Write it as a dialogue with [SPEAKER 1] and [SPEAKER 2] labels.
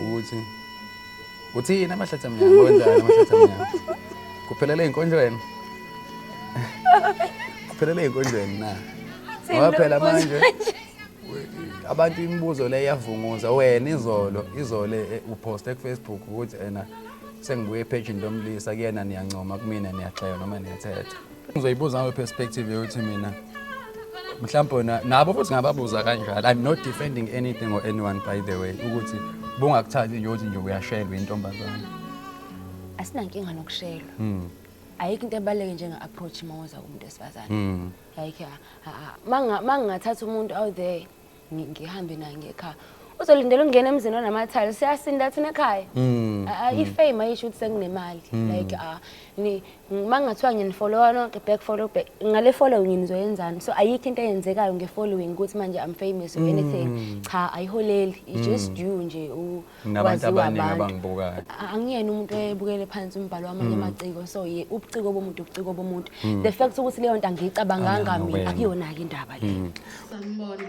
[SPEAKER 1] ukuthi uthini amahlathi amnyama wenzani amahlathi amnyama kuphelele ey'nkonjweni kuphelele ey'nkonjweni na ngoba phela manje abantu imibuzo le iyavunguza wena izolo izolo eh, eh, uphoste kufacebook ukuthi ena sengibuye ephejini lomlisa kuyena niyancoma kumina niyaxeka noma niyathetha ngizoyibuza ngayo perspective yokuthi mina mhlawumbe wena nabo futhi ngababuza kanjalo i'm not defending anything or anyone by the way ukuthi bungakuthathi nje ukuthi nje uyashelwa intombazane
[SPEAKER 2] asinankinga nokushelwa mm. ayikho into ebaluleke njenga-approach uma wenza kumuntu wesifazane mm. like mangingathatha umuntu out there ngi- ngihambe naye ngekhaya uzolindela ukungena emzini onamathali siyasinda thina ekhaya Mm, Ah, ah, ifame ayisho ukuthi senginemali like ah, ni- uma kungathiwa nginifollowa nonke back follow back ngale following nizoyenzani so ayikho into eyenzekayo nge-following ukuthi manje i'm famous or anything cha ayiholeli it's just you nje u- Nabantu waziwa abaningi
[SPEAKER 1] abantu. abangibukayo. A- angiyena umuntu
[SPEAKER 2] oyebukele phansi umbhalo wamanye amaciko so ye ubuciko bomuntu ubuciko bomuntu the fact ukuthi leyo nto angiyicabanganga Angazi mina ngokwena. akuyona-ke indaba le Sanibona.